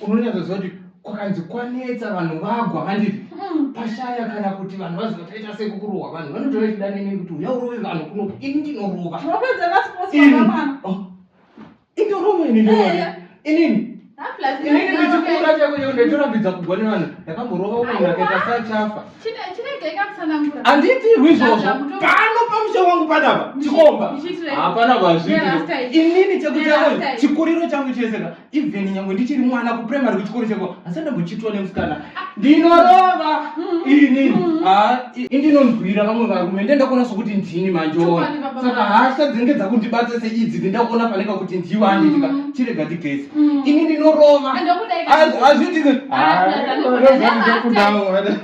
unonyatsoziva kuti kwakanzi kwanetsa vanhu vagwa handiti hmm. pashaya kana kuti vanhu vaziva taita sekukurohwa vanhu vanotora chida nene kuti uya urove vanhu kuno ini ndinorova oh. indorova ini ndorova inini inini ndichikura chako chako ndaitorambidza kugwa nevanhu ndakamborova umwe ndakaita sachafa handiitirwi izvozvo pano pamusha wangu panapa chikomba hapana vazvii inini chekuchako chikuriro changu cheseka even nyangwe ndichiri mwana kuprimary kuchikoro chako asi ndambochitwa nemusikana ndinorova ini indinonzwira vamwe varume ndendakuona sokuti ndini manjora saka hasha dzinenge dzakundibata seidzi ndindakuona paneka kuti ndiwa anditika mm. chirega tigesi mm. ini ndinorova hazvitikudawo